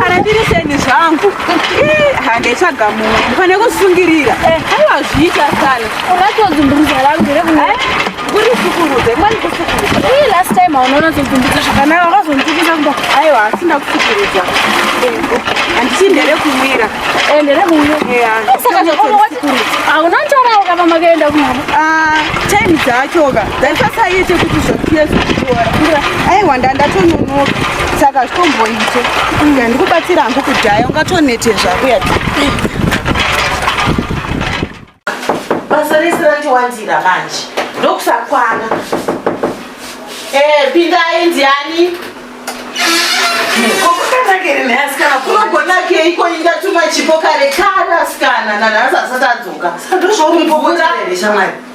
kana ndiri seni zvangu handaitsvaga mumwe ndifane kusungirira eh. aiwa zviita sana unatodzumburuza rangu eh? kuri sukurudza imani kusukurudza ii last time aunoona todzumburuza zvakanaka wakazonditukisa kuba aiwa asi ndakusukurudza handiti ndere kumwira eh, ndere kuuyo saka hauna ntorawo kama makaenda kumama ah, time dzachoka dzaisasaiite kuti zvakuye zvokutora aiwa ndandatononoka saka hazvitomboite ndikubatsira hangu kudhaya ungatonete zvako yati basa rese randiwandira manje ndokusakwana eh, pindai ndiani kokokanakerinhaasikanakunogonakei ko ingatuma chipo kare kana asikana nanhasi asati adzoka ndozvauripokotaeshamwari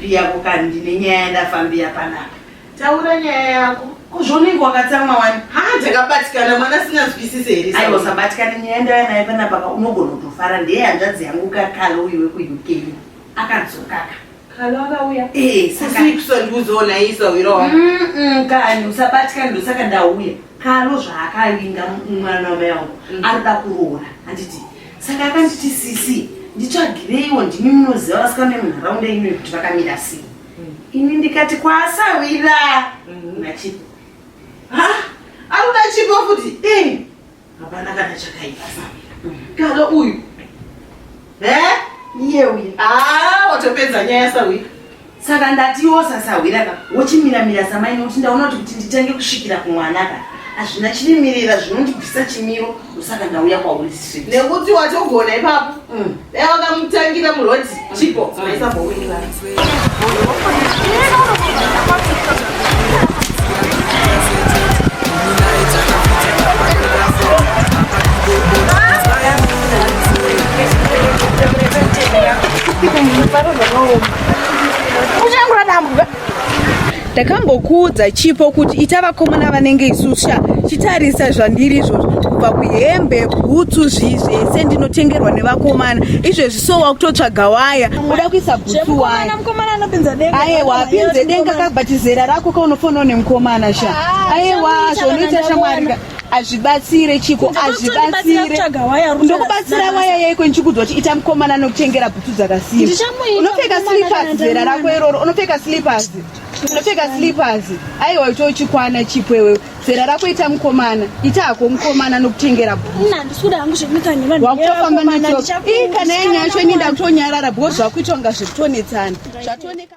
Piya ko kani ndine nyaya yandafambira panapa. Taura nyaya yako. Kuzvonenge wakatsamwa wani. Haa ndakabatikana mwana asinganzwisise here. Aiwa usabatikane nyaya ndaya naye panapa ka unogona kutofara ndeye hanzvadzi yangu ka Kalo uyu wekuUK. Akadzoka ka. Kalo akauya. Eh saka. Sisi kusandiudzawo naye isahwira wangu. Mm kani usabatikane ndosaka ndauya. Kalo zvaakavinga mwana wamai wangu. Anoda kuroora handiti. saka akanditi sisi nditsvagireiwo ndimi munoziva vasikana vemunharaunda ino yekuti vakamira sei mm. ini ndikati kwaasawira mm. nachipo ha anoda chipo futi eh, hapana kana chakaipa kalo uyu e iye uyu a ah, watopedza nyaya sawira saka ndati iwo sasahwira ka wochimiramira samai nokuti ndaona kuti kuti nditange kusvikira kumwana ka hazvina chirimirira zvinondibvisa chimiro ndosaka ndauya kwauri street nekuti watogona ipapo Mm. dai wakamutangira muroti chipo maisambowinira ndakambokuudza chipo kuti ita vakomana vanenge isusha chitarisa zvandiri izvozvo kubva kuhembe bhutsu zvii zvese ndinotengerwa nevakomana izvezvi so wakutotsvaga waya uda kuisa bhutsu wayaewa apinze denga kabhatizera rako kaunofonawo nemukomana sha aewa zvonoita shamwarika azvibatsire chiko azvibatsire ndokubatsira waya yaiko ndichikudzwa kuti ita mukomana anokuchengera bhutsu dzakasimba unopfeka slippers zera rako iroro unopfeka slippers unopfeka slippers aiwa ito uchikwana chipo iwewe zera rako ita mukomana ita hako mukomana anokuchengera bhutswakutofamba nacho ii kana yanyaya yacho ini ndakutonyarara bhoo zvakuitwa nga zvekutonetsana zvatoneka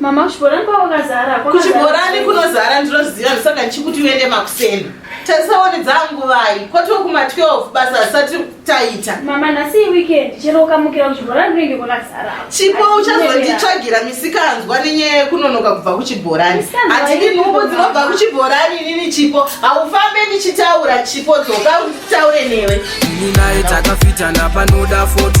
Mama kuchibhorani kwakazara. Kuchibhorani kunozara ndinoziva ndosaka ndichikuti uende makuseni. Tasaone dzangu vai. Kwatova kuma 12 basa risati taita. Mama nhasi weekend chero ukamukira kuchibhorani kunenge kwakazara. Chipo uchazonditsvagira misikanzwa nenyaya yekunonoka kubva kuchibhorani. Hatidi nhumbu dzinobva kuchibhorani inini Chipo. Haufambe ndichitaura Chipo dzoka utaure newe. Ini naye takafitana panoda foto.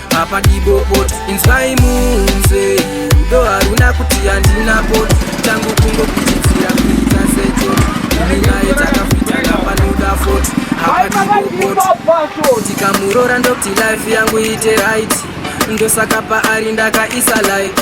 apa dibopot inzwai munze rudo haruna kuti handina pot tangu kungokuchidzira kuita secho iminaye takafitana panoda fot apa dibopot ndikamurora ndokuti life yangu ite right ndosaka paari ndakaisa like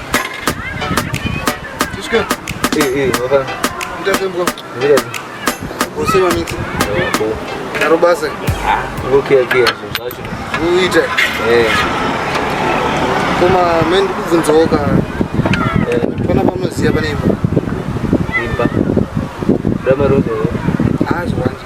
koma meni ndikubvunzawo ka pana pamunoziva pane imba imba damaroa azvanje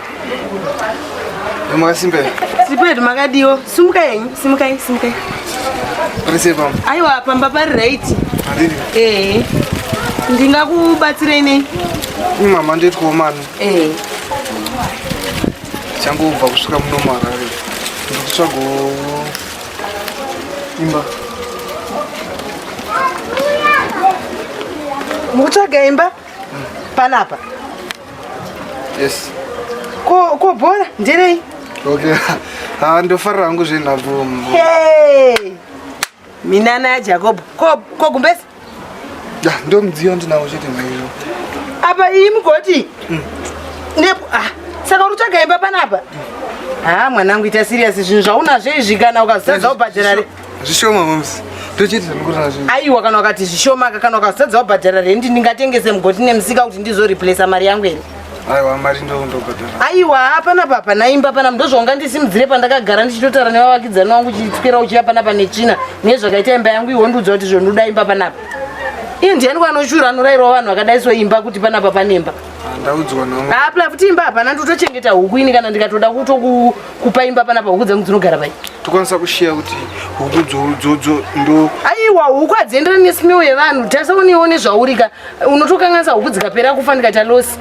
Mwakasimbe. Sipedu makadiwo. Simuka yenyu, simuka yenyu, simuka yenyu. Parise pamba. Aiwa pamba pari right. Pariri. Eh. Ndingakubatsirei nei? Ni mama ndoitwawo mano. Eh. Changobva kusvika muno muHarare. Ndikutsvagawo imba. Mukutsvaga imba? Panapa. yes ko ko bhora nderei okay ah ndofarira hangu zvenhabvu hey minana ya jacob ko ko gumbesi ya yeah, ndo mudziyo ndinawo chete maiyo apa iyi mugoti mm. nepo ah saka uri tsvaga imba panapa mm. haa ah, mwanangu ita siriyasi zvinhu zvaunazvo izvi kana ukazotadza ubhadhara zvishoma moms tochiti zvamukurara zvinhu aiwa kana wakati zvishoma ka kana ukasadza wabhadhara rendi ndingatengese mugoti nemusika kuti ndizoreplace mari yangu here aiwa mari ndondobhadhara aiwa hapana papa naimba pana ndozvaunga ndisimudzire pandakagara ndichitotara nevavakidzani wangu uchitswera uchiya panapa netsvina nezvakaita imba yangu iwo ndiudza kuti zvondoda imba panapa iye ndiani kwanoshura anorairwa vanhu vakadaiso imba kuti panapa panemba ah, ndaudzwa naaplafuti imba hapana ndotochengeta huku ini kana ndikatoda kutoku kupa imba panapa huku dzangu dzinogara pai tokwanisa kushiya kuti huku dzodzo ndo aiwa huku hadzienderani nesimeo yevanhu tarisa unewo nezvaurika unotokanganisa huku dzikapera kufa ndikaita losi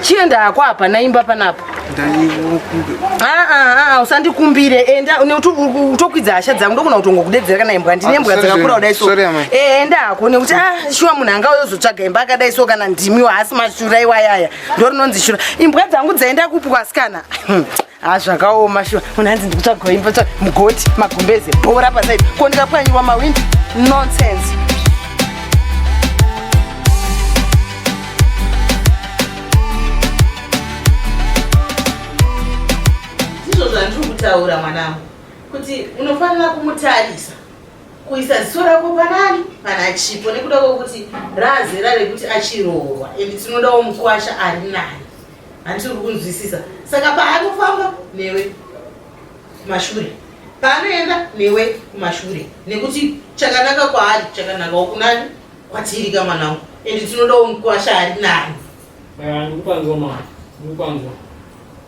chienda hako apa naimba panapa ah, ah, ah, usandikumbire enda utokwidza hasha dzangu ndokona kutongo kudedzera kana imbwa ndine mbwa dzakakura kudai so eh, enda hako nekuti shuwa munhu anga oyozotsvaga imba akadai so kana ndimiwo haasi mashura iwayaya ndorinonzi shura imbwa dzangu dzaenda kupi kwasikana hmm. ha ah, zvakaoma shuwa munhu anzi ndikutsvagawo imba tsva mugoti magumbeze bhora pasaidi ko ndikapwanyiwa mawindi nonsense ndizvo zvandiri kutaura mwanangu kuti unofanira kumutarisa kuisa ziso rako panani pana chipo nekuda kwekuti raazera rekuti achiroorwa and tinodawo mukwasha ari nani hanti uri kunzwisisa saka paanofamba newe kumashure paanoenda newe kumashure nekuti chakanaka kwaari chakanakawo kunani kwatiri ka mwanangu and tinodawo mukwasha ari nani ndikupanzwa ma ndikupanzwa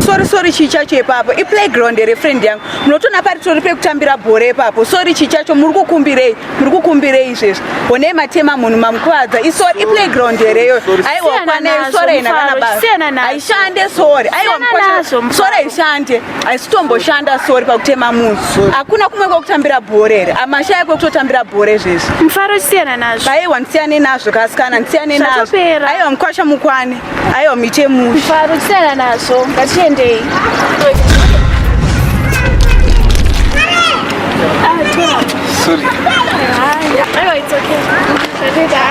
sorry sorry chii chacho ipapo iplayground here friend yangu munotoona pari tori pekutambira bhora ipapo sorry chii chacho muri kukumbirei muri kukumbirei izvezvi honei matema munhu mamukuvadza isori iplayground here iyoyo aiwa kwanei sori haina kana basa haishande sori aiwa sorry haishande haisitomboshanda sori pakutema munhu hakuna kumwe kwekutambira bhore here amashaya kwekutotambira bhore zvezvi mufaro chisiyana nazvo aiwa ndisiyane nazvo kasikana ndisiyane nazvo aiwa mukwasha mukwane aiwa mite musha mufaro chisiyana nazvo ngatiendei Sorry. Aiwa, it's okay.